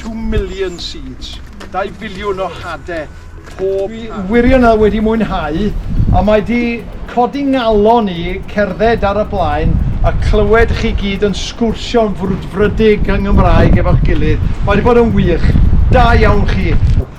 Two million seeds, dau filiwn o hade pob haf. Dwi wirionedd wedi mwynhau a mae 'di codi ngalon i cerdded ar y blaen a clywed chi gyd yn sgwrsio'n frwdfrydig yng Nghymraeg efo'ch gilydd. Mae 'di bod yn wych. Da iawn chi.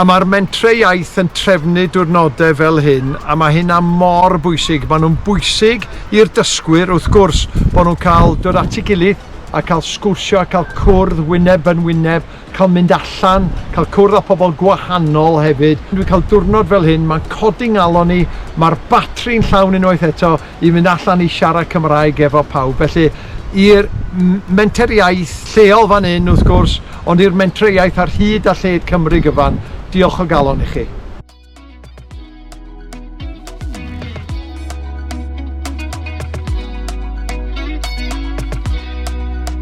A mae'r mentrau iaith yn trefnu diwrnodau fel hyn a mae hynna mor bwysig. Maen nhw'n bwysig i'r dysgwyr, wrth gwrs, bod nhw'n cael dod at ei gilydd a cael sgwrsio a cael cwrdd wyneb yn wyneb, cael mynd allan, cael cwrdd â phobl gwahanol hefyd. Dwi'n cael diwrnod fel hyn, mae'n codi 'ngalon i, mae'r batri'n llawn unwaith eto. i fynd allan i siarad Cymraeg efo pawb. Felly i'r menter iaith lleol fan hyn wrth gwrs, ond i'r mentre iaith ar hyd a lled Cymru gyfan, diolch o galon i chi.